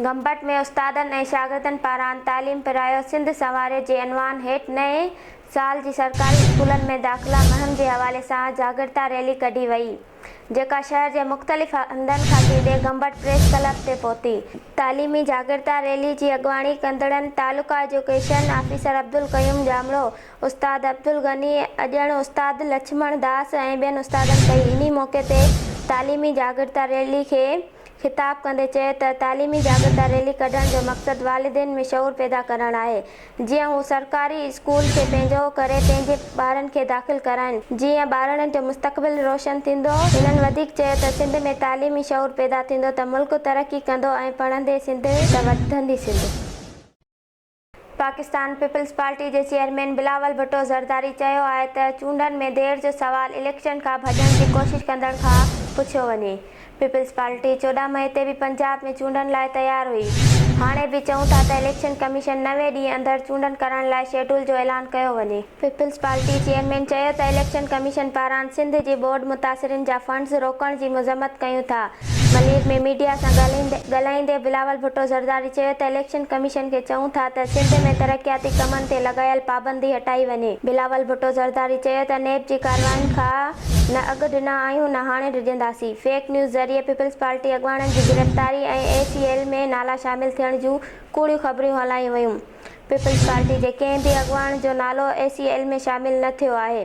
گمبٽ ۾ استادن ۽ شاگردن پاران تعليم پرايو سنڌ سنواريو جي عنوان هيٺ نئين سال جي سرڪاري اسڪولن ۾ داخلا مهم جي حوالي سان جاڳرتا ريلي ڪڍي وئي جيڪا شهر جي مختلف هنڌن کان ٿيندي گمبٽ پريس ڪلب تي پهتي. تعليمي جاڳرتا ريلي جي اڳواڻي ڪندڙن تعلقه ايجوڪيشن آفيسر عبدالقيوم ڄامڙو، استاد عبدالغني، اڄڻ استاد لڇمڻ داس ۽ ٻين استادن ڪئي انهي موقعي تي تعليمي جاڳرتا ريلي کي. خطاب ڪندي چيو ته تعليمي جاڳرتا ريلي ڪڍڻ جو مقصد والدين ۾ شعور پيدا ڪرڻ آهي جيئن هو سرڪاري اسڪول کي پنهنجو ڪري پنهنجي ٻارن کي داخل ڪرائين جيئن ٻارڙن جو مستقبل روشن ٿيندو هنن وڌيڪ چيو ته سنڌ ۾ تعليمي شعور پيدا ٿيندو ته ملڪ ترقي ڪندو ۽ پڙهندي سنڌ ته وڌندي سنڌ. پاڪستان پيپلز پارٽي جي چيئرمين بلاول ڀٽو زرداري چيو آهي ته چونڊن ۾ دير جو سوال اليڪشن کان ڀڄڻ جي ڪوشش ڪندڙن کان پڇيو وڃي، پيپلز پارٽي چوڏهن مئي تي به پنجاب ۾ چونڊن لاء تيار هئي، هاڻي به چئون ٿا ته اليڪشن ڪميشن نوي ڏينهن اندر چونڊن ڪرائڻ لاء شيڊول جو اعلان ڪيو وڃي. پيپلز پارٽي چيئرمين چيو ته اليڪشن ڪميشن پاران سنڌ جي ٻوڏ متاثرين جا فنڊز روڪڻ جي مذمت ڪيون ٿا. ملير ۾ ميڊيا سان ڳالهائيندي بلاول ڀٽو زرداري چيو ته اليڪشن ڪميشن کي چئون ٿا ته سنڌ ۾ ترقياتي ڪمن تي لڳايل پابندي هٽائي وڃي. بلاول ڀٽو زرداري چيو ته نيب جي ڪاررواين کان نه اڳ ڏنا آهيون نه هاڻي ڊڄنداسين. فيڪ نيوز ذريعي پيپلز پارٽي اڳواڻن جي گرفتاري ۽ اي سي ايل ۾ نالا شامل ٿيڻ جون ڪوڙيون خبريون هلايون ويون. پيپلز پارٽي جي ڪنهن به اڳواڻ جو نالو اي سي ايل ۾ شامل نه ٿيو آهي.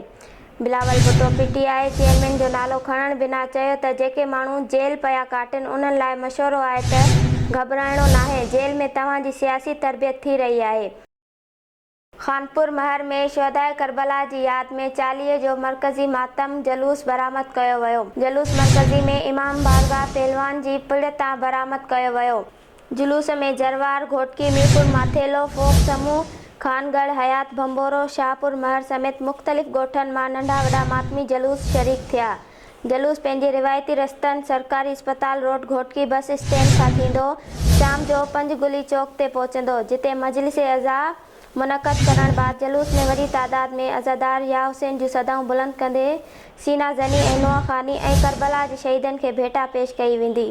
Bilawal Bhutto P T I chairman جو نالو کڻڻ بنا چيو ته جيڪي ماڻهو جيل پيا ڪاٽن انهن لاء مشورو آهي ته گهٻرائڻو ناهي جيل ۾ توهان جي سياسي تربيت ٿي رهي آهي. خانپور مهر ۾ شهداء ڪربلا جي ياد ۾ چاليهه جو مرڪزي ماتم جلوس برآمد ڪيو ويو جلوس مرڪزي ۾ امام بارگاهه پهلوان جي پڙ تان برآمد ڪيو ويو. جلوس ۾ جروار، گهوٽڪي، ميرپور ماٿيلو، فوڪ سمون، خان ڳڙهه، حيات ڀنڀورو، شاهپور مهر سميت مختلف ڳوٺن مان ننڍا وڏا ماتمي جلوس شريڪ ٿيا. جلوس پنهنجي روايتي رستن، سرڪاري اسپتال روڊ، گهوٽڪي بس اسٽينڊ کان ٿيندو شام جو پنج گلي چوڪ تي پهچندو، جتي مجلس عزا منعقد ڪرڻ بعد جلوس ۾ وڏي تعداد ۾ عزادار ياحسين جون صدائون بلند ڪندي سينا زني ۽ نوحه خاني ۽ ڪربلا جي شهيدن کي ڀيٽا پيش ڪئي ويندي.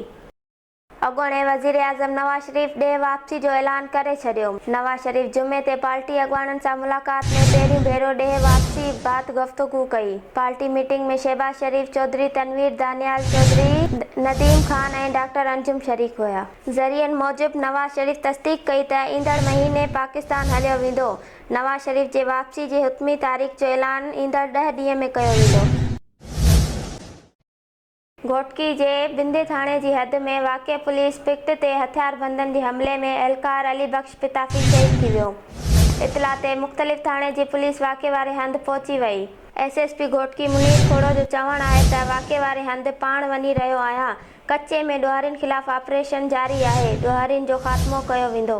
اڳوڻي وزيراعظم نواز شريف ڏيهه واپسي جو اعلان ڪري ڇڏيو، نواز شريف جمعي تي پارٽي اڳواڻن سان ملاقات ۾ پهريون ڀيرو ڏيهه واپسي بعد گفتگو ڪئي، party meeting ۾ Shahbaz Sharif, Chaudhry Tanveer, Daniyal Chaudhry, Nadeem Khan ۽ doctor Anjum شريڪ هيا. ذريعن موجب نواز شريف تصديق ڪئي ته ايندڙ مهيني پاڪستان هليو ويندو، نواز شريف جي واپسي جي حتمي تاريخ جو اعلان ايندڙ ڏهه ڏينهن ۾ ڪيو ويندو. گهوٽڪي جي بندي ٿاڻي جي حد ۾ واقع پوليس پڪٽ تي هٿياربندن جي حملي ۾ اهلڪار علي بخش پتافي شهيد ٿي ويو. اطلاع تي مختلف ٿاڻي جي پوليس واقع واري هنڌ پهچي وئي. S S P Ghotki Munir Khoso جو چوڻ آهي ته واقع واري هنڌ پاڻ وڃي رهيو آهيان، ڪچي ۾ ڏوهارين خلاف آپريشن جاري آهي، ڏوهارين جو خاتمو ڪيو ويندو.